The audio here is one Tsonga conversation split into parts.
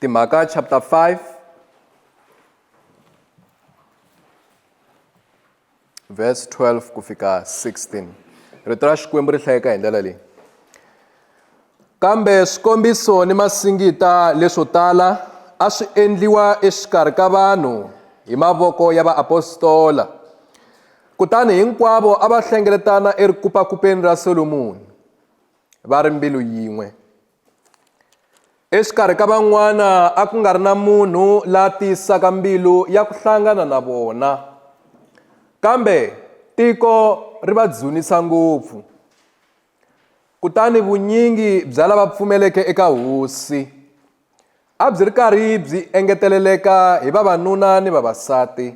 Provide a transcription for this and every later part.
Timhaka chapter 5 verse 12 ku fika 16 rito ra xikwembu ri hlayeka hi ndlela leyi kambe swikombiso ni masingita leswo tala a swi endliwa exikarhi ka vanhu hi mavoko ya vaapostola kutani hinkwavo a va hlengeletana erikupakupeni ra solomoni va ri mbilu yin'we exikarhi ka van'wana a ku nga ri na munhu la tiyisaka mbilu ya ku hlangana na vona kambe tiko ri va dzunisa ngopfu kutani vunyingi bya lava pfumeleke eka hosi a byi ri karhi byi engeteleleka hi vavanuna ni vavasati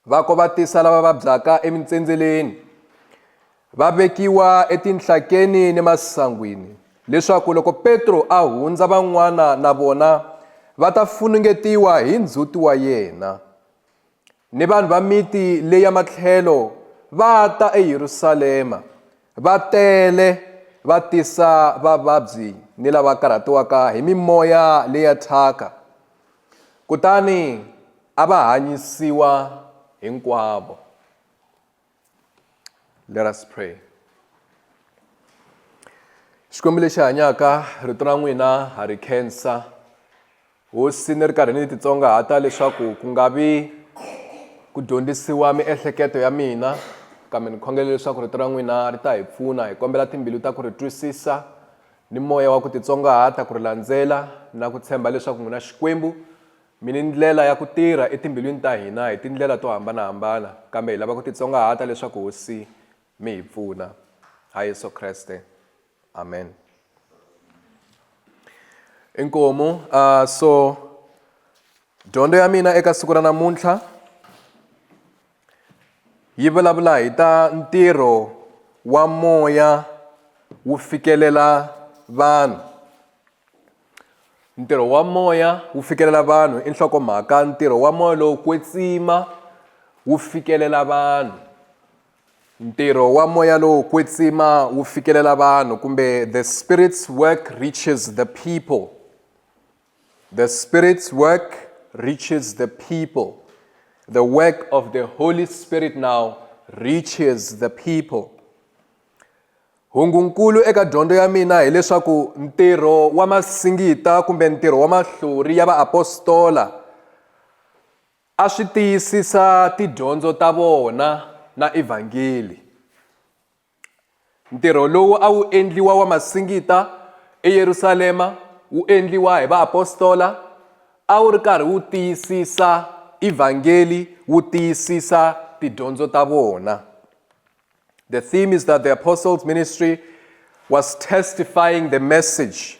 Va kovatisa lava vabyaka emintsendzeleni, va vekiwa etinhlakeni ni masangwini, leswaku loko Petro a hundza van'wana na vona va ta funungetiwa hi ndzhuti wa yena. Ni vanhu va miti leyi ya matlhelo va ta eYerusalema, va tele, va tisa vavabyi ni lava karhatiwaka hi mimoya leya thyaka. Kutani a va hanyisiwa hinkwavo. Let us pray. Xikwembu lexi hanyaka rito ra n'wina ha ri khensa. Hosi ni ri karhi ni titsongahata leswaku ku nga vi ku dyondzisiwa miehleketo ya mina kambe ni khongele leswaku rito ra n'wina ri ta hi pfuna hi kombela timbilu ta ku ri twisisa ni moya wa ku titsongahata, ku ri landzela na ku tshemba leswaku n'wi na Xikwembu, mi ni ndlela ya ku tirha etimbilwini ta hina hi tindlela to hambana-hambana, kambe hi lava ku titsongahata leswaku Hosi mi hi pfuna. Ha Yesu Kreste. Amen. Inkomu, a so dyondzo ya mina eka siku ra namuntlha. Yi vulavula hi ta ntirho wa moya wu fikelela vanhu ntirho wa moya wu fikelela vanhu i nhlokomhaka ntirho wa moya lowu kwetsima wu fikelela vanhu ntirho wa moya lowu kwetsima wu fikelela vanhu kumbe the spirits work reaches the people The Spirit's work reaches the people. The work of the Holy Spirit now reaches the people. hungunkulu eka dyondzo ya mina hileswaku ntirho wa masingita kumbe ntirho wa mahlori ya vaapostola a swi tiyisisa tidyondzo ta vona na evhangeli Ntirho lowu a wu endliwa wa masingita eYerusalema wu endliwa hi vaapostola, a wu ri karhi wu tiyisisa Evhangeli, wu tiyisisa tidyondzo ta vona. The theme is that the apostles' ministry was testifying the message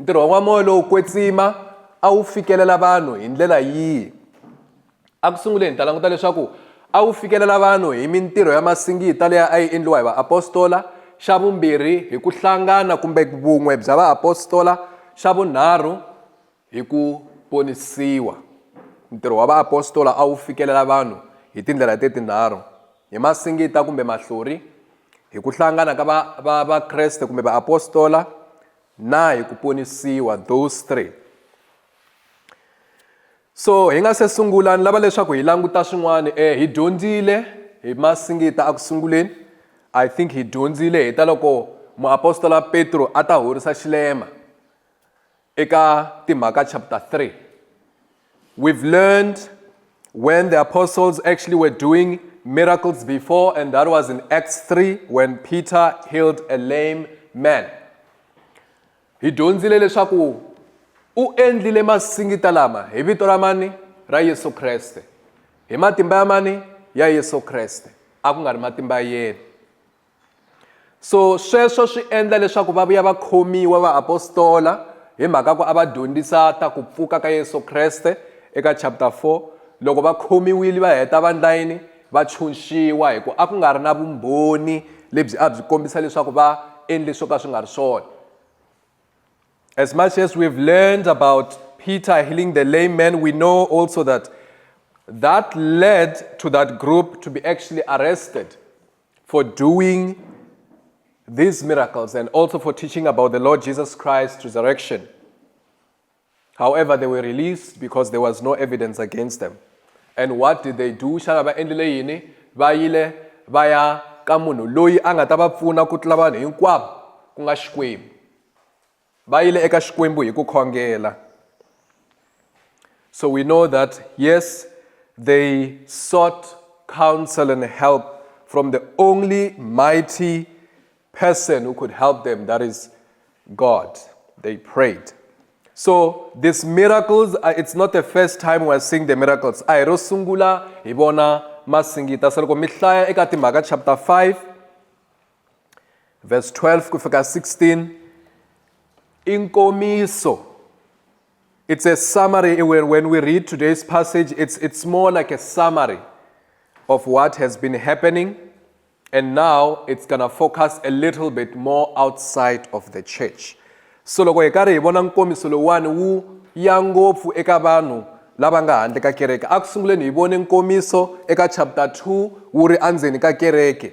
Ntirho wa n'wa moya lowo kwetsima a wu fikelela vanhu hi ndlela yihi? Eku sunguleni hi ta languta leswaku a wu fikelela vanhu hi mintirho ya masingita leyi a yi endliwa hi vaapostola, xa vumbirhi hi ku hlangana kumbe vun'we bya vaapostola, xa vunharhu hi ku ponisiwa. Ntirho wa vaapostola a wu fikelela vanhu hi tindlela leti tinharhu, hi masingita kumbe mahlori, hi ku hlangana ka va va Vakreste kumbe vaapostola, Na hi ku ponisiwa, those three. So hi nga se sungula ni lava leswaku hi languta swin'wana eh hi dyondzile hi masingita a ku sunguleni i think hi dyondzile hi ta loko muapostola petro a ta horisa xilema eka timhaka chapter 3 We've learned when the apostles actually were doing miracles before, and that was in Acts 3 when Peter healed a lame man. Hi dyondzile leswaku u endlile masingita lama hi vito ra mani ra Yesu Kreste. Hi matimba ya mani ya Yesu Kreste. A ku nga ri matimba ya yena. so sweswo swi endla leswaku va vuya va khomiwa vaapostola hi mhaka ku a va dyondzisa ta ku pfuka ka yesu kreste eka chapter 4 loko va khomiwile va heta vandla yini va tshunxiwa hi ku a ku nga ri na vumbhoni lebyi a byi kombisa leswaku va endle swo ka swi nga ri swona as much as we've learned about peter healing the lame man we know also that that led to that group to be actually arrested for doing these miracles and also for teaching about the Lord Jesus Christ's resurrection. However, they were released because there was no evidence against them. And what did they do? Xana va endlile yini? Va yile va ya ka munhu loyi a nga ta va pfuna ku tlula vanhu hinkwavo ku nga Xikwembu. va yile eka xikwembu hi ku khongela so we know that yes they sought counsel and help from the only mighty person who could help them that is god they prayed so these miracles uh, it's not the first time we're seeing the miracles a hi ro sungula hi vona masingita se loko mi hlaya eka timhaka chapter 5 verse 12 ku fika 16 i nkomiso it's a summary when, when we read today's passage it's, it's more like a summary of what has been happening and now it's gonna focus a little bit more outside of the church so loko hi karhi hi vona nkomiso lowuwani wu ya ngopfu eka vanhu lava nga handle ka kereke a ku sunguleni hi vone nkomiso eka chapter 2 wu ri endzeni ka kereke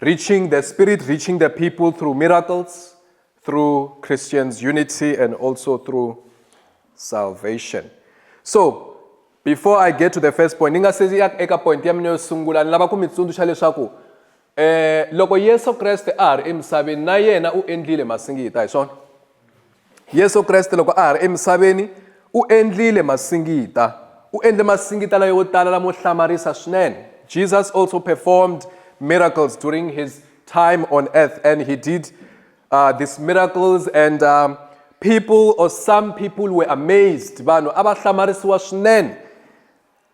Reaching the Spirit, reaching the people through miracles, through Christians' unity, and also through salvation. So, before i get to the first point ni nga se ya eka point ya mina yo sungula ni lava ku mi tsundzuxa leswaku eh loko yesu kreste a ha ri emisaveni na yena u endlile masingita hi swona Yesu Kreste loko a ha ri emisaveni u endlile masingita u endle masingita layo tala lamo hlamarisa swinene jesus also performed miracles during his time on earth and he did uh, these miracles and um, people or some people were amazed vanhu a va hlamarisiwa swinene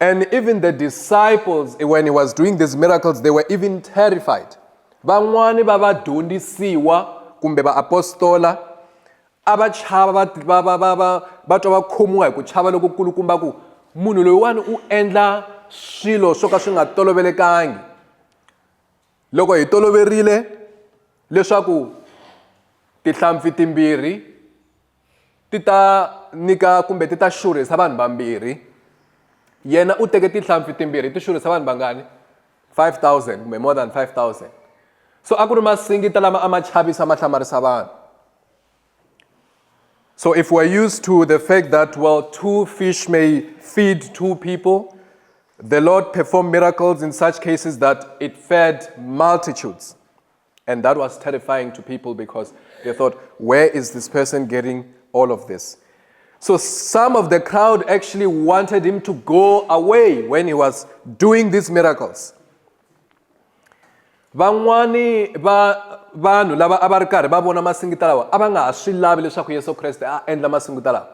And even the disciples, when he was doing these miracles, they were even terrified. Van'wani va vadyondzisiwa kumbe vaapostola a va chava va va va va va va twa va khomiwa hi ku chava loko kulukumba ku munhu loyiwani u endla swilo swo ka swi nga tolovelekangi loko hi toloverile leswaku tihlampfi timbirhi ti ta nyika kumbe ti ta xurhisa vanhu vambirhi yena u teke tinhlampfi timbirhi ti xurhisa vanhu vangani 5000 kumbe more than 5000 so a ku ri masingita lama a ma chavisa ma hlamarisa vanhu so if we're used to the fact that well two fish may feed two people the lord performed miracles in such cases that it fed multitudes And that was terrifying to people because they thought, where is this person getting all of this? So some of the crowd actually wanted him to go away when he was doing these miracles. van'wani va vanhu lava a va ri karhi va vona masingita lawa a va nga ha swi lavi leswaku yesu kreste a endla masingita lawa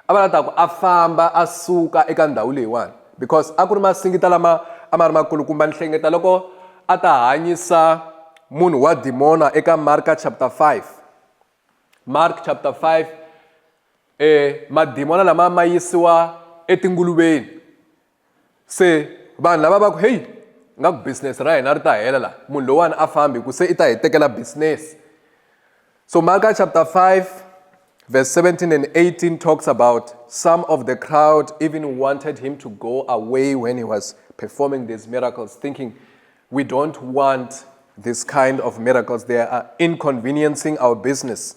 A va la ta ku a famba a suka eka ndhawu leyiwani because a ku ri masingita lama a ma ri makulukumba. Ni hlengeta loko a ta hanyisa munhu wa dimona eka Marka chapter 5. Mark chapter 5 e madimona lama ma yisiwa etinguluveni se vanhu lava va ku heyi nga ku business ra hina ri ta hela la munhu lowani a fambi ku se i ta hi tekela business so maka chapter 5 verse 17 and 18 talks about some of the crowd even wanted him to go away when he was performing these miracles thinking we don't want this kind of miracles they are inconveniencing our business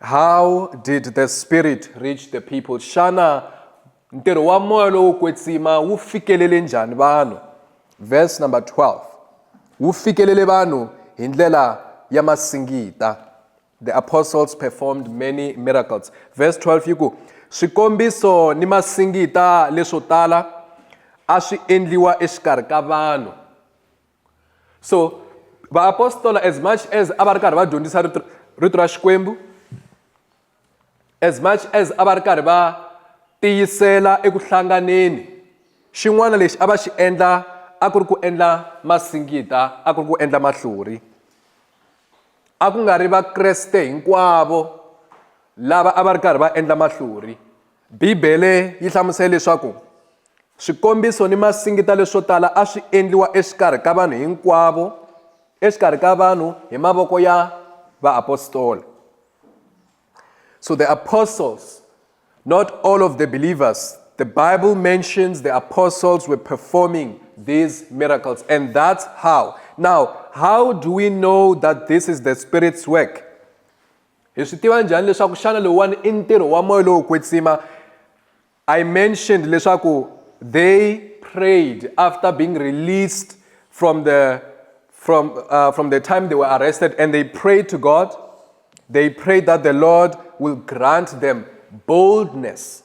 How did the Spirit reach the people? Xana ntirho wa moya lowo kwetsima wu fikelele njhani vanhu? Verse number 12. Wu fikelele vanhu hi ndlela ya masingita. The apostles performed many miracles. Verse 12 yi ku swikombiso ni masingita leswo tala a swi endliwa exikarhi ka vanhu. so vaapostola as much as a va ri karhi va dyondzisa rito rito ra xikwembu as much as a va ri karhi va tiyisela eku hlanganeni xin'wana lexi a va xi endla a ku ri ku endla masingita a ku ri ku endla mahlori a ku nga ri vakreste hinkwavo lava a va ri karhi va endla mahlori Bibele yi hlamusele leswaku swikombiso ni masingita leswo tala a swi endliwa exikarhi ka vanhu hinkwavo exikarhi ka vanhu hi mavoko ya vaapostola so the apostles not all of the believers the bible mentions the apostles were performing these miracles and that's how now how do we know that this is the spirit's work hi swi tiva njhani leswaku xana lowuwani i ntirho wa moya lowo kwetsima i mentioned leswaku they prayed after being released from the from uh, from the time they were arrested and they prayed to god they prayed that the lord will grant them boldness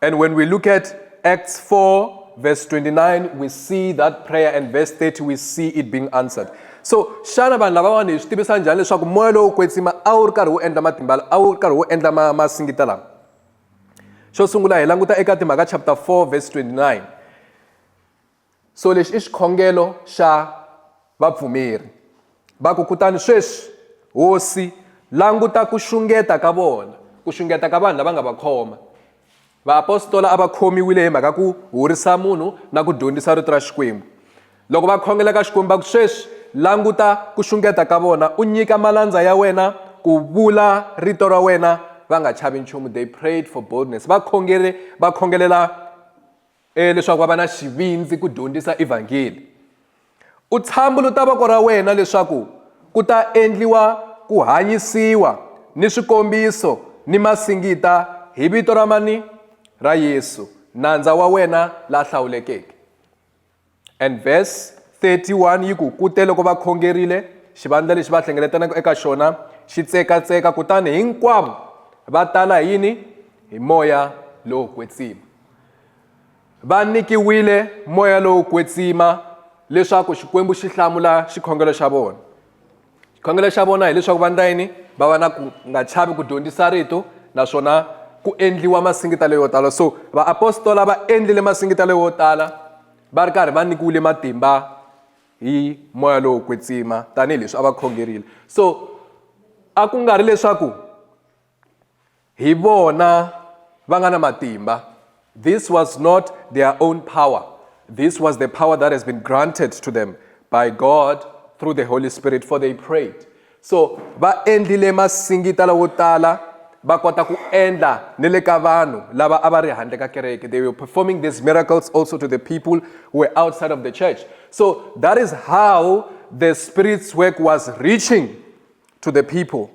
And when we look at Acts 4, verse 29, we see that prayer, and verse 30, we see it being answered. so xana vanhu lavawani hi swi tivisa njhani leswaku moya lowu kwetsima a wu ri karhi wu endla matimba a wu ri karhi wu endla ma masingita lama xo sungula hi languta eka timhaka chapter 4 verse 29 So lexi i xikhongelo xa vapfumeri. Va ku kutani sweswi, Hosi, languta ku xungeta ka vona, ku xungeta ka vanhu lava nga va khoma. Vaapostola a va khomiwile hi mhaka ku horisa munhu na ku dyondzisa rito ra Xikwembu. Loko va khongela ka Xikwembu va ku sweswi, languta ku xungeta ka vona, u nyika malandza ya wena ku vula rito ra wena va nga chavi nchumu. They prayed for boldness. Va khongele, va khongelela E leswaku va va na xivindzi ku dyondzisa Evhangeli. U tshambuluta voko ra wena leswaku ku ta endliwa ku hanyisiwa ni swikombiso ni masingita hi vito ra mani? Ra Yesu, nandza wa wena la hlawulekeke. And verse 31 yi ku kute loko va khongerile xivandla lexi va hlengeletanaka eka xona xi tsekatseka kutani hinkwavo va tala hi yini hi moya lowo kwetsima va nyikiwile moya lowo kwetsima leswaku xikwembu xi hlamula xikhongelo xa vona xikhongelo xa vona hileswaku va ndla yini va va na ku nga chavi ku dyondzisa rito naswona ku endliwa masingitelo yo tala so vaapostola va endlile masingitelo yo tala va ri karhi va nyikiwile matimba hi moya lowo kwetsima tanihileswi a va khongerile so a ku nga ri leswaku hi vona va nga na matimba this was not their own power this was the power that has been granted to them by god through the holy spirit for they prayed so va endlile masingita lawo tala va kota ku endla ni le ka vanhu lava a va ri handle ka kereke they were performing these miracles also to the people who were outside of the church so that is how the spirit's work was reaching to the people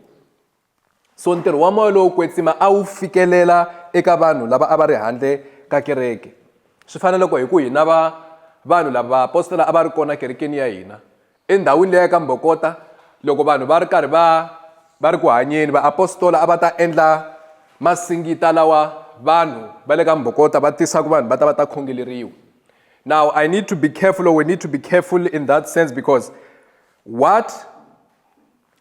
So ntirho wa moya lowo kwetsima a wu fikelela eka vanhu lava a va ri handle ka kereke. Swi fana loko hi ku hi na va vanhu lava vaapostola a va ri kona kerekeni ya hina. Endhawini leya ka Mbokota loko vanhu va ri karhi va va ri ku hanyeni vaapostola a va ta endla masingita lawa vanhu va le ka Mbokota va tisaka vanhu va ta va ta khongeleriwa. Now I need to be careful or we need to be careful in that sense because what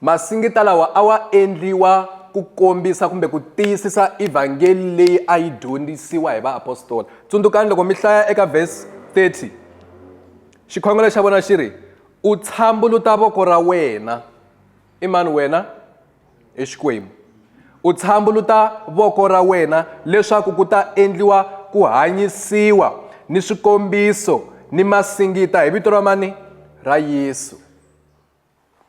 Masingita lawa a wa endliwa ku kombisa kumbe ku tiyisisa evhangeli leyi a yi dyondzisiwa hi vaapostola. Tsundzukani loko mi hlaya eka vhesi 30 xikhongelo xa vona xi ri u tshambuluta voko ra wena i mani wena i xikwembu u tshambuluta voko ra wena leswaku ku ta endliwa ku hanyisiwa ni swikombiso ni masingita hi vito ra mani ra yesu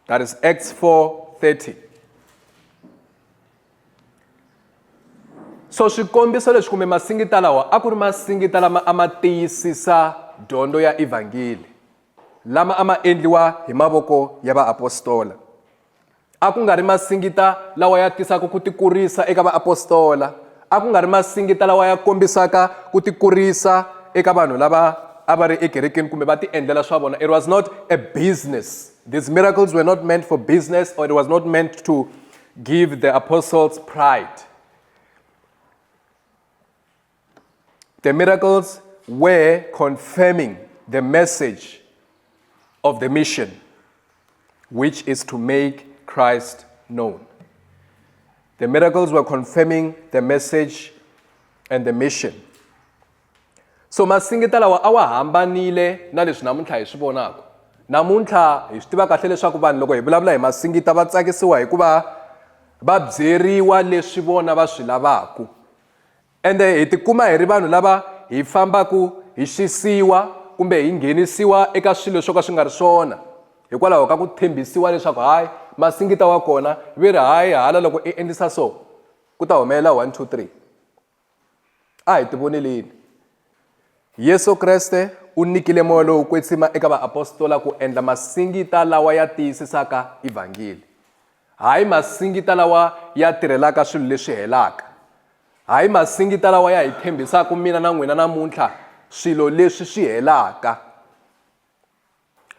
That is Acts 4:30. So swikombiso leswi kumbe masingita lawa a ku ri masingita lama a ma tiyisisa dyondzo ya evhangeli lama a ma endliwa hi mavoko ya vaapostola a ku nga ri masingita lawa ya tisaka ku tikurisa eka vaapostola A ku nga ri masingita lawa ya kombisaka ku tikurisa eka vanhu lava a va ri ekerekeni kumbe va tiendlela swa vona. It was not a business. These miracles were not meant for business or it was not meant to give the apostles pride. The miracles were confirming the message of the mission. which is to make Christ known. The miracles were confirming the message and the mission. so masingita lawa a wa hambanile na leswi namuntlha hi swi vonaka namuntlha hi swi tiva kahle leswaku vanhu loko hi vulavula hi masingita va tsakisiwa hikuva va byeriwa leswi vona va swi lavaku Ende hi tikuma hi ri vanhu lava hi fambaka hi xisiwa kumbe hi nghenisiwa eka swilo swo ka swi nga ri swona hikwalaho ka ku tshembisiwa leswaku hayi masingita wa kona ve ri hayi hala loko i endlisa so ku ta humelela 1 2 3 a hi tivoneleni yesu kreste u nyikile moya lowu kwetsima eka vaapostola ku endla masingita lawa ya tiyisisaka evhangeli Hayi masingita lawa ya tirhelaka swilo leswi helaka. Hayi masingita lawa ya hi tshembisaka mina na n'wina namuntlha swilo leswi swi helaka.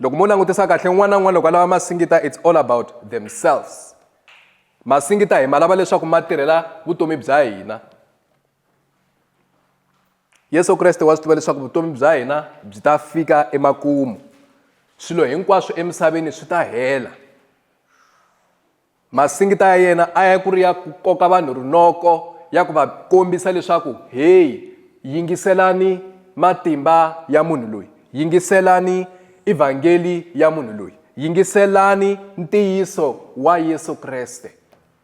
Loko mo langutisa kahle un'wana na un'wana loko a lava masingita it's all about themselves. Masingita hi ma lava leswaku ma tirhela vutomi bya hina. yesu kreste wa swi tiva leswaku vutomi bya hina byi ta fika emakumu swilo hinkwaswo emisaveni swi ta hela masingita ya yena a ya ku ri ya ku koka vanhu rinoko ya ku va kombisa leswaku heyi yingiselani matimba ya munhu loyi yingiselani evhangeli ya munhu loyi yingiselani ntiyiso wa yesu kreste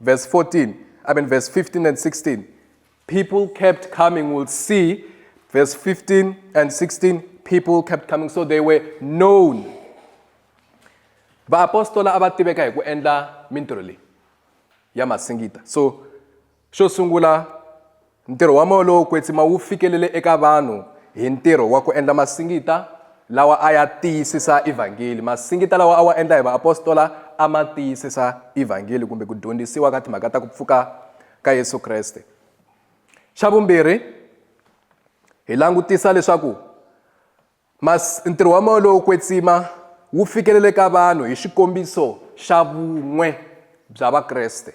Verse 14, I mean, verse 15 and 16. People kept coming, we'll see. Verse 15 and 16, people kept coming, so they were known. vaapostola a va tiveka hi ku endla mintirho leyi ya masingita so xo sungula Ntirho wa Moya lowo Kwetsima wu fikelele eka vanhu hi ntirho wa ku endla masingita lawa a ya tiyisisa Evhangeli. Masingita lawa a wa endla hi vaapostola a ma tiyisisa Evhangeli kumbe ku dyondzisiwa ka timhaka ta ku pfuka ka Yesu Kreste. Xa vumbirhi, hi langutisa leswaku mas, ntirho wa Moya lowo Kwetsima wu fikelele ka vanhu hi xikombiso xa vun'we bya Vakreste.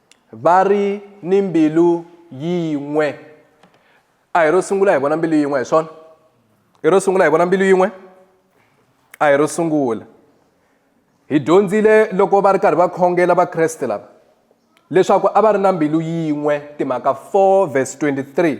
Va ri ni mbilu yin'we. A hi ro sungula hi vona mbilu yin'we hi swona? I ro sungula hi vona mbilu yin'we? A hi ro sungula. Hi dyondzile loko va ri karhi va khongela Vakreste lava leswaku a va ri na mbilu yin'we timhaka 4 verse 23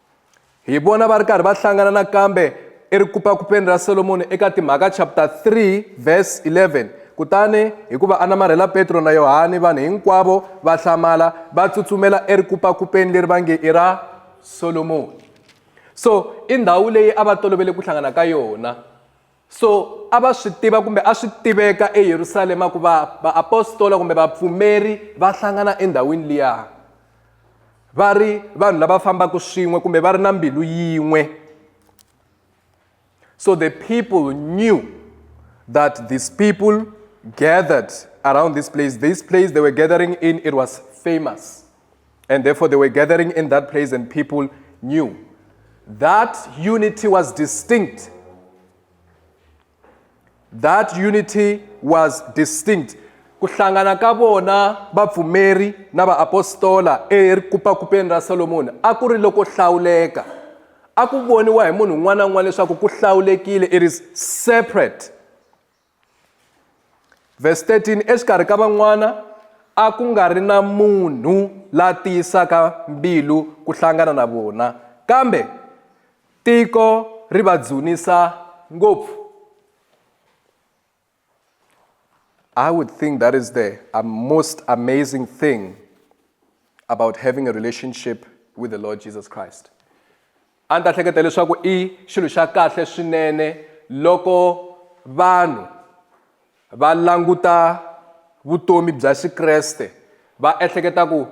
hi vona va ri karhi va hlangana nakambe erikupakupeni ra solomoni eka timhaka chapter 3 verse 11 kutani hikuva a namarhela petro na yohani vanhu hinkwavo va hlamala va tsutsumela erikupakupeni leri va nge i ra solomoni so i ndhawu leyi a va tolovele ku hlangana ka yona So a va swi tiva kumbe a swi tiveka eYerusalema ku va vaapostola kumbe vapfumeri va hlangana endhawini liya va ri vanhu lava fambaka swin'we kumbe va ri na mbilu yin'we so the people knew that these people gathered around this place this place they were gathering in it was famous And therefore, they were gathering in that place, and people knew. That unity was distinct. That unity was distinct. ku hlangana ka vona vapfumeri na vaapostola erikupakupeni ra solomoni a ku ri loko hlawuleka a ku voniwa hi munhu un'wana na un'wana leswaku ku hlawulekile it is separate Verse 13 exikarhi ka van'wana a ku nga ri na munhu la tiyisaka mbilu ku hlangana na vona kambe tiko ri va dzunisa ngopfu I would think that is the uh, most amazing thing about having a relationship with the Lord Jesus Christ. A ni ta hleketa leswaku i xilo xa kahle swinene loko vanhu va languta vutomi bya Xikreste va ehleketa ku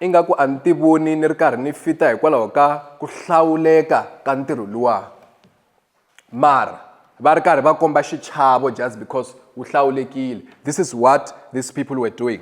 ingaku a ni ti voni ni ri karhi ni fita hikwalaho ka ku hlawuleka ka ntirho luwa mara va ri karhi va komba xichavo just because wu hlawulekile this is what these people were doing.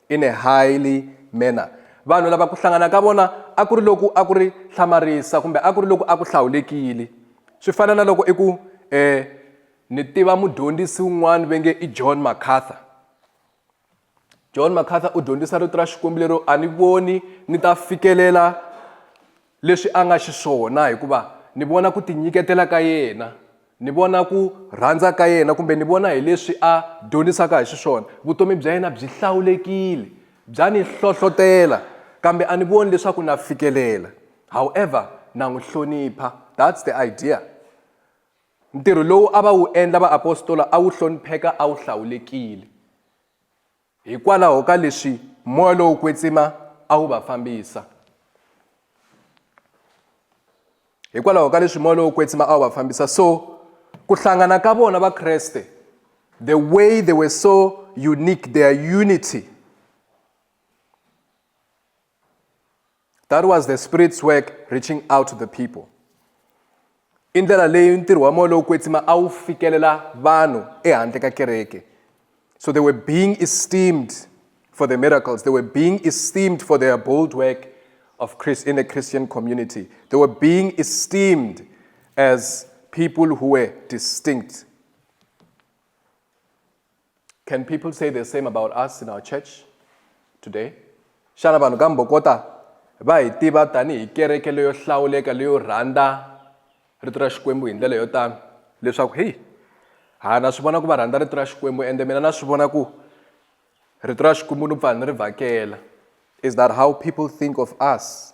In a highly manner, vanhu lava ku hlangana ka vona a ku ri loku a ku ri hlamarisa kumbe a ku ri loku a ku hlawulekile. Swi fana na loko i ku, Eh, ni tiva mudyondzisi un'wana ve nge i John MacArthur. John MacArthur u dyondzisa Rito ra Xikwembu lero a ni voni ni ta fikelela leswi a nga xiswona hikuva ni vona ku tinyiketela ka yena ni vona ku rhandza ka yena kumbe ni vona hi leswi a dyonisaka hi xiswona vutomi bya yena byi hlawulekile bya ni hlohlotela kambe a ni voni leswaku na fikelela however na n'wi hlonipha that's the idea ntirho lowu a va wu endla vaapostola a wu hlonipheka a wu hlawulekile Hikwalaho ka leswi moya lowo kwetsima a wu va fambisa. Hikwalaho ka leswi moya lowo kwetsima a wu va fambisa so ku hlangana ka vona vakreste the way they were so unique their unity that was the spirit's work reaching out to the people i ndlela leyi ntirho wa moya lowu kwetsima a wu fikelela vanhu ehandle ka kereke so they were being esteemed for the miracles they were being esteemed for their bold work of Christ in a Christian community. They were being esteemed as people who were distinct. Can people say the same about us in our church today? Xana vanhu ka Mbokota va hi tiva tanihi kereke leyo hlawuleka leyo rhandza rito ra Xikwembu hi ndlela yo tano leswaku hi ha na swi vona ku va rhandza rito ra Xikwembu ende mina na swi vona ku rito ra Xikwembu ni pfa ni ri vhakela. Is that how people think of us?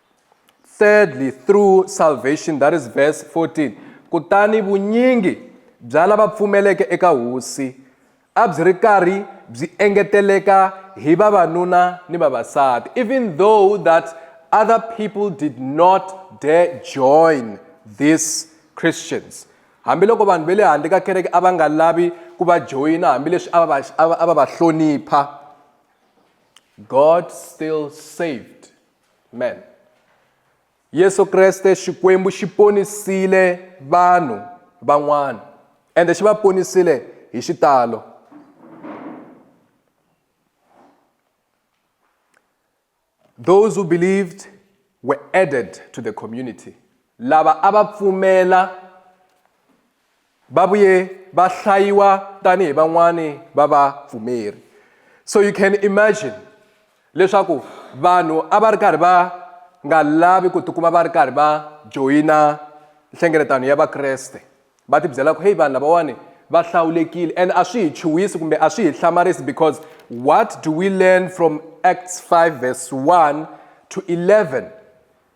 Thirdly, through salvation, that is verse 14. Kutani vunyingi bya lava pfumeleke eka hosi a byi ri karhi byi engeteleka hi vavanuna ni vavasati even though that other people did not dare join these christians hambiloko vanhu va le handle ka kereke a va nga lavi ku va joyina hambileswi a va a va hlonipha god still saved Amen. Yesu Kreste Xikwembu xi ponisile vanhu van'wana ende xi va ponisile hi xitalo. Those who believed were added to the community. Lava a va pfumela Va vuye va hlayiwa tani hi van'wani va va pfumeri. So you can imagine leswaku vanhu a va ri karhi va nga lavi ku tikuma va ri karhi va joyina nhlengeletano ya Vakreste. Va ti byela ku heyi vanhu lavawani va hlawulekile and a swi hi chuhisi kumbe a swi hi hlamarisi because what do we learn from Acts 5 verse 1 to 11?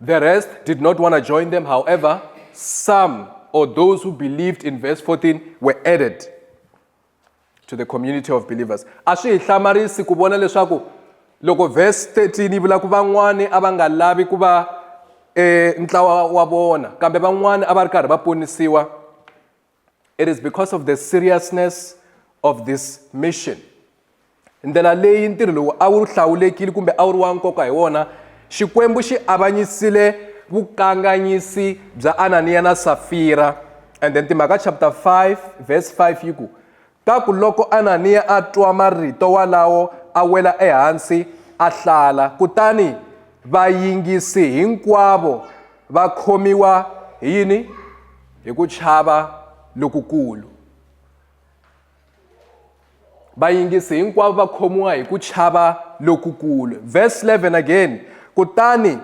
The rest did not want to join them. However, some or those who believed in verse 14 were added to the community of believers. A swi hi hlamarisi ku vona leswaku loko verse 13 yi vula ku van'wani a va nga lavi ku va e ntlawa wa vona kambe van'wani a va ri karhi va ponisiwa it is because of the seriousness of this mission ndlela leyi ntirho lowu a wu hlawulekile kumbe a wu ri wa nkoka hi wona xikwembu xi avanyisile vukanganyisi bya ananiya na safira and then timhaka chapter 5 verse 5 yi ku Ta ku loko Ananiya a twa marito walawo a wela ehansi a hlala, kutani vayingisi hinkwavo va khomiwa hi yini? Hi ku chava lokukulu. Vayingisi hinkwavo va khomiwa hi ku chava lokukulu. Verse 11 again, kutani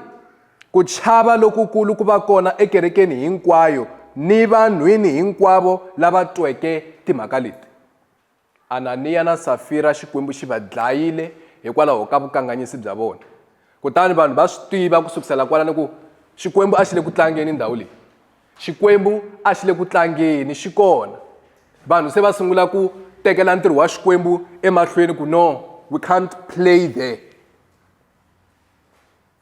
Ku chava lokukulu ku va kona ekerekeni hinkwayo ni vanhwini hinkwavo lava tweke timhaka leti. Ananiya na Safira Xikwembu xi va dlayile hikwalaho ka vukanganyisi bya vona. Kutani vanhu va swi tiva ku sukusela kwalano ku Xikwembu a xi le ku tlangeni ndhawu leyi. Xikwembu a xi le ku tlangeni, xi kona. Vanhu se va sungula ku tekela ntirho wa Xikwembu emahlweni ku no, we can't play there.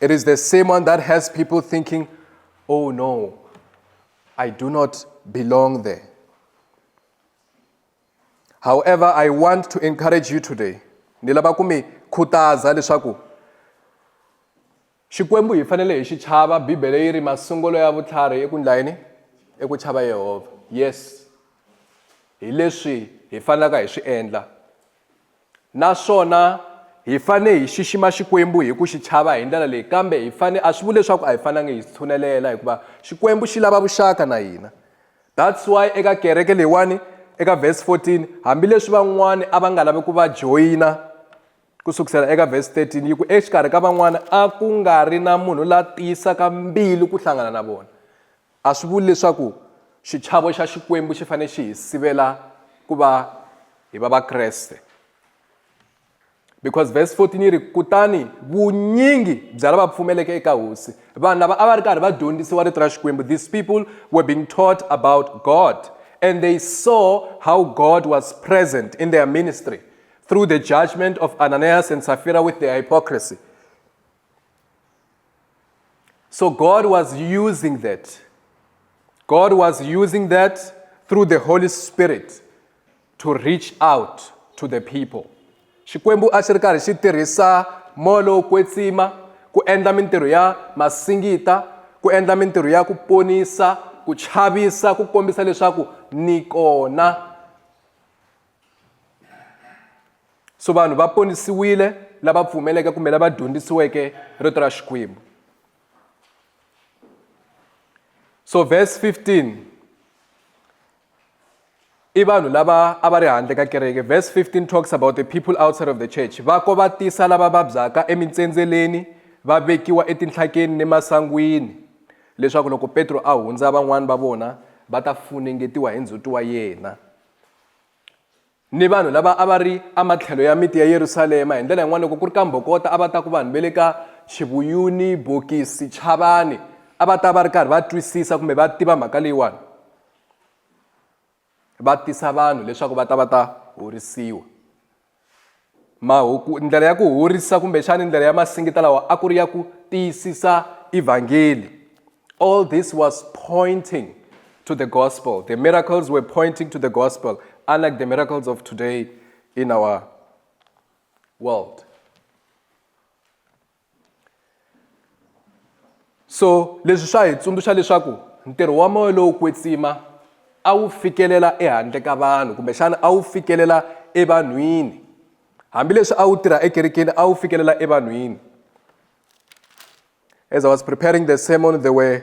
It is the same one that has people thinking, oh no, I do not belong there. However, I want to encourage you today. Ni lava ku mi khutaza leswaku Xikwembu hi fanele hi xi chava Bibele yi ri masungulo ya vutlhari i ku ndla yini? I ku chava Yehovha. Yes. Hi leswi hi fanelaka hi swi endla. Naswona hi fane hi xixima Xikwembu hi ku xi chava hi ndlela leyi, kambe hi fane a swi vuli leswaku a hi fanangi hi tshunelela hikuva Xikwembu xi lava vuxaka na hina. That's why eka kereke leyiwani eka verse 14 hambileswi van'wana a va nga lavi ku va joyina ku sukusela eka verse 13 yi ku exikarhi ka van'wana a ku nga ri na munhu la tiyisaka mbilu ku hlangana na vona A swi vuli leswaku xichavo xa Xikwembu xi fanele xi hi sivela ku va hi va Vakreste. Because verse 14 yi ri, Kutani vunyingi bya lava pfumeleke eka hosi, vanhu lava a va ri karhi va dyondzisiwa rito ra Xikwembu, these people were being taught about God and they saw how God was present in their ministry through the judgment of Ananias and Sapphira with their hypocrisy. So God was using that. God was using that through the Holy Spirit to reach out to the people. Xikwembu a xi ri karhi xi tirhisa moya lowo kwetsima ku endla mintirho ya masingita ku endla mintirho ya ku ponisa ku chavisa ku kombisa leswaku ni kona so vanhu va ponisiwile lava pfumeleke kumbe lava dyondzisiweke rito ra xikwembu so verse 15 i vanhu lava a va ri handle ka kereke verse 15 talks about the people outside of the church va ko va tisa lava vabyaka emintsendzeleni va vekiwa etinhlakeni ni masangwini leswaku loko petro a hundza van'wani va vona va ta funengetiwa hi ndzhuti wa yena ni vanhu lava a va ri ematlhelo ya miti ya Yerusalema. Hi ndlela yin'wana loko ku ri ka mbhokota a va ta ku vanhu va le ka Xivuyuni, Bokisi, Chavani a va ta va ri karhi va twisisa kumbe va tiva mhaka leyiwani va tisa vanhu leswaku va ta va ta horisiwa mahuku ndlela ya ku horisa kumbexani ndlela ya masingita lawa a ku ri ya ku tiyisisa evhangeli all this was pointing to the gospel the miracles were pointing to the gospel unlike the miracles of today in our world so leswi swa hi tsundzuxa leswaku ntirho wa moya lowo kwetsima a wu fikelela ehandle ka vanhu kumbexana a wu fikelela evanhwini hambileswi a wu tirha ekerekeni a wu fikelela evanhwini as i was preparing the sermon there were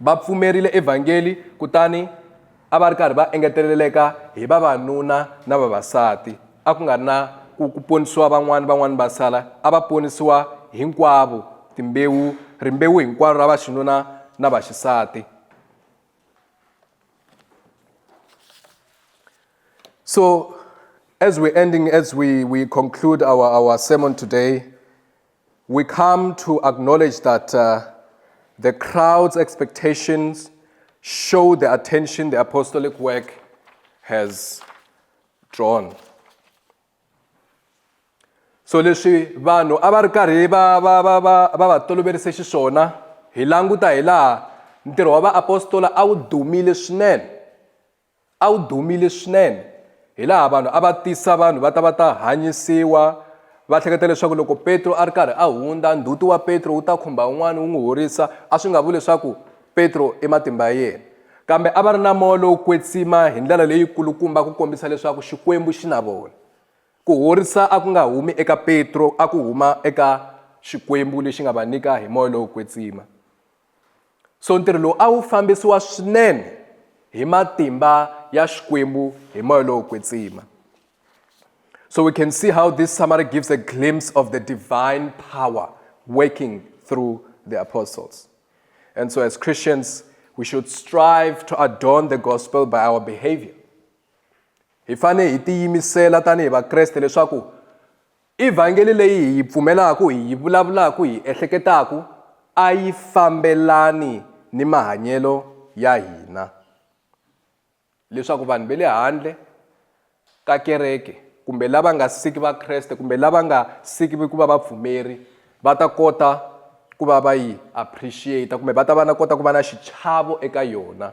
Va pfumerile evhangeli kutani a va ri karhi va engeteleleka hi vavanuna na vavasati a ku nga ri na ku ku ponisiwa van'wana van'wana va sala a va ponisiwa hinkwavo timbewu rimbewu hinkwaro ra vaxinuna na vaxisati so as we ending as we, we conclude our, our sermon today We come to acknowledge that uh, the crowd's expectations show the attention the apostolic work has drawn. So leswi vanhu a va ri karhi va va va va va va toloverise xiswona hi languta hi laha ntirho wa vaapostola a wu dumile swinene A wu dumile swinene, hilaha vanhu a va tisa vanhu va ta va ta hanyisiwa. Va hleketa leswaku loko Petro a ri karhi a hundza, ndzhuti wa Petro wu ta khumba un'wana wu n'wi horisa, a swi nga vuli leswaku Petro i matimba ya yena. Kambe a va ri na moya lowo kwetsima hi ndlela leyi kulukumba ku kombisa leswaku Xikwembu xi na vona. Ku horisa a ku nga humi eka Petro, a ku huma eka Xikwembu lexi nga va nyika hi moya lowo kwetsima. so ntirho lowu a wu fambisiwa swinene hi matimba ya xikwembu hi moya lowo kwetsima so we can see how this summary gives a glimpse of the divine power working through the apostles and so as christians we should strive to adorn the gospel by our behavior hi fanele hi tiyimisela tanihi vakreste leswaku I Vhangeli leyi hi yi pfumelaka, hi yi vulavulaka, hi yi ehleketaka a yi fambelani ni mahanyelo ya hina. Leswaku vanhu va le handle ka kereke kumbe lava nga siki Vakreste kumbe lava nga siki ku va vapfumeri va ta kota ku va va yi appreciate kumbe va ta va na kota ku va na xichavo eka yona.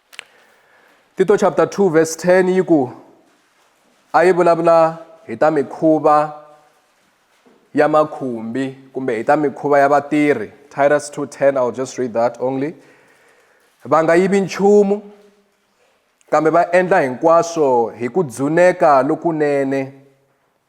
Tito chapter 2 verse 10 yi ku a yi vulavula hi ta mikhuva ya makhumbi kumbe hi ta mikhuva ya vatirhi titus 210 i'll just read that only va nga yivi nchumu kambe va endla hinkwaswo hi ku dzuneka lokunene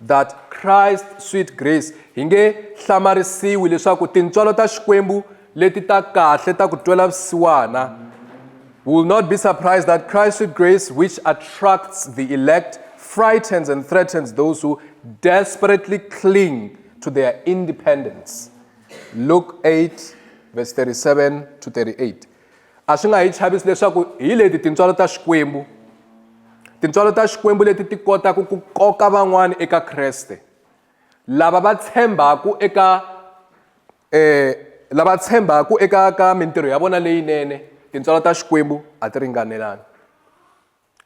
that Christ sweet grace hi nge hlamarisiwi leswaku tintswalo ta xikwembu leti ta kahle ta ku twela vusiwana we will not be surprised that Christ sweet grace which attracts the elect frightens and threatens those who desperately cling to their independence Luke 8 verse 37 to 38 a swi nga hi chavisi leswaku hi leti tintswalo ta xikwembu tintswalo ta xikwembu leti ti kotaka ku koka van'wana eka kreste lava va tshembaka eka eh lava tshembaka eka ka mintirho ya vona leyinene tintswalo ta xikwembu a ti ringanelani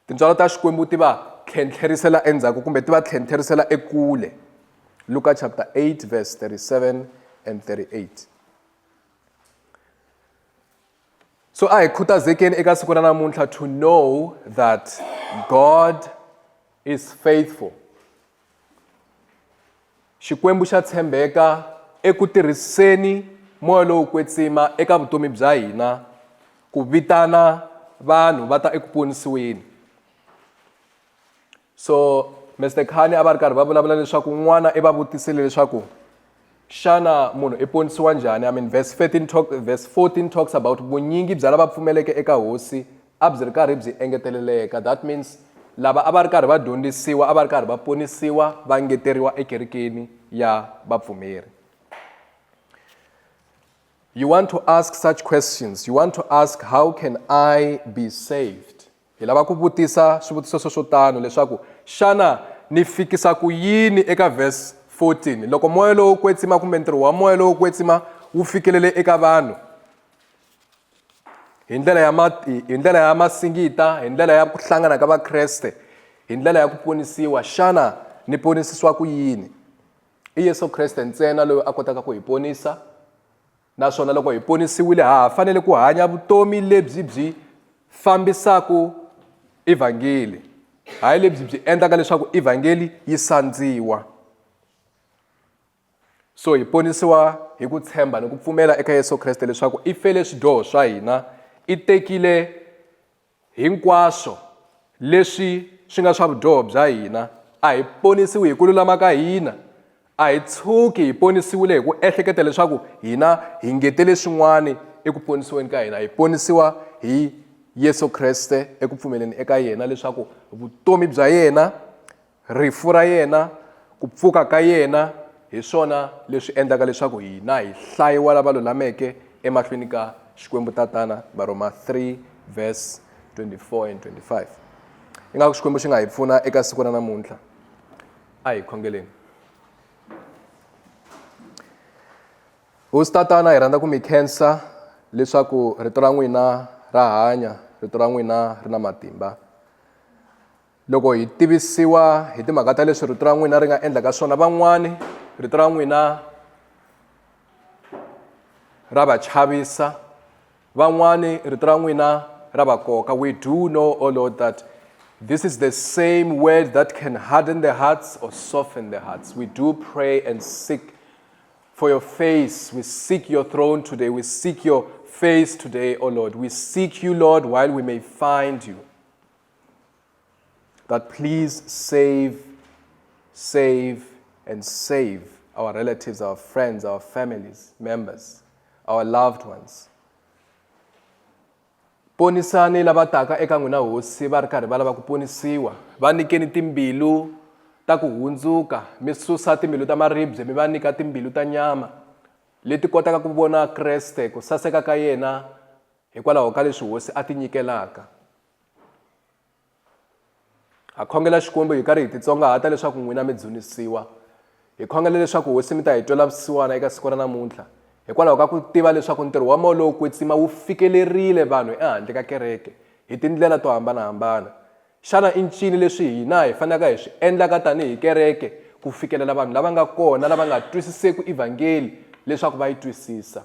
tintswalo ta xikwembu ti va tlhentlherisela endzhaku kumbe ti va tlhentlherisela ekule luka chapter 8 verse 37 and 38 so a hi khutazekeni eka siku ra namuntlha to know that god is faithful xikwembu xa tshembeka eku tirhiseni moya lowu kwetsima eka vutomi bya hina ku vitana vanhu va ta eku ponisiweni so Mister Khani a va ri karhi va vulavula leswaku n'wana i va vutisile leswaku xana munhu i ponisiwa njhani i mean verse 13 talk, verse 14 talks about vunyingi bya lava pfumeleke eka hosi a byi ri karhi byi engeteleleka that means lava a va ri karhi va dyondzisiwa a va ri karhi va ponisiwa va ngeteriwa ekerekeni ya vapfumeri you want to ask such questions you want to ask how can i be saved Hi lava ku vutisa swivutiso swo swo tano leswaku, Xana ni fikisa ku yini eka verse 14 loko moya lowo kwetsima kumbe ntirho wa moya lowo kwetsima wu fikelele eka vanhu hi ndlela ya ma hi ndlela ya masingita hi ndlela ya ku hlangana ka vakreste hi ndlela ya ku ponisiwa xana ni ponisisiwa ku yini i yesu kreste ntsena loyi a kotaka ku hi ponisa Naswona loko hi ponisiwile ha ha fanele ku hanya vutomi lebyi byi fambisaka evhangeli, hayi lebyi byi endlaka leswaku evhangeli yi sandziwa. So hi ponisiwa hi ku tshemba ni ku pfumela eka Yesu Kreste leswaku i fele swidyoho swa hina, i tekile Hinkwaswo leswi swi nga swa vudyoho bya hina. A hi ponisiwi hi ku lulama ka hina. A hi tshuki hi ponisiwile hi ku ehleketa leswaku hina hi ngetele swin'wana eku ponisiweni ka hina. Hi ponisiwa hi Yesu Kreste eku pfumeleni eka yena leswaku vutomi bya yena, Rifu ra yena, ku pfuka ka yena, hi swona leswi endlaka leswaku hina hi hlayiwa lava lulameke emahlweni ka Xikwembu Tatana, Varhoma 3 verse 24 and 25. Ingaku Xikwembu xi nga hi pfuna eka siku ra namuntlha. A hi khongeleni. Hosi Tatana, hi rhandza ku mi khensa leswaku rito ra n'wina ra hanya, rito ra n'wina ri na matimba. Loko hi tivisiwa hi timhaka ta leswi rito ra n'wina ri nga endlaka swona van'wani rito ra n'wina ra va chavisa van'wani rito ra n'wina ra va koka we do know o oh lord that this is the same word that can harden the hearts or soften the hearts we do pray and seek for your face we seek your throne today we seek your face today o oh lord we seek you lord while we may find you that please save, save, and save our relatives, our friends, our families, members, our loved ones. ponisani lava taka eka n'wina hosi va ri karhi va lava ku ponisiwa va nyikeni timbilu ta ku hundzuka mi susa timbilu ta maribye mi va nyika timbilu ta nyama leti kotaka ku vona kreste ku saseka ka yena hikwalaho ka leswi hosi a ti nyikelaka ha khongela xikwembu hi karhi hi titsongahata leswaku n'wina mi dzunisiwa hi khongela leswaku hosi mi ta hi twela vusiwana eka siku ra namuntlha hikwalaho ka ku tiva leswaku ntirho wa moya lowo kwetsima wu fikelerile vanhu ehandle ka kereke hi tindlela to hambanahambana xana i ncini leswi hina hi fanelaka hi swi endlaka tanihi kereke ku fikelela vanhu lava nga kona lava nga twisiseki evhangeli leswaku va yi twisisa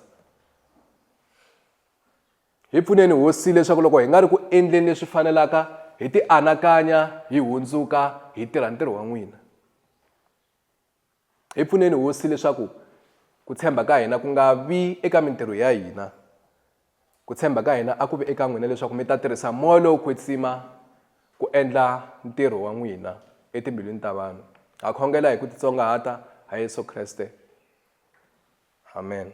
Hi pfuneni Hosi leswaku loko hi nga ri ku endleni leswi fanelaka hi ti anakanya hi hundzuka hi tirha ntirho wa n'wina. Hi pfuneni Hosi leswaku ku tshemba ka hina ku nga vi eka mintirho ya hina. Ku tshemba ka hina a ku vi eka n'wina leswaku mi ta tirhisa moya lowo kwetsima ku endla ntirho wa n'wina etimbilwini ta vanhu. Ha khongela hi ku titsongahata ha Yesu Kreste. Amen.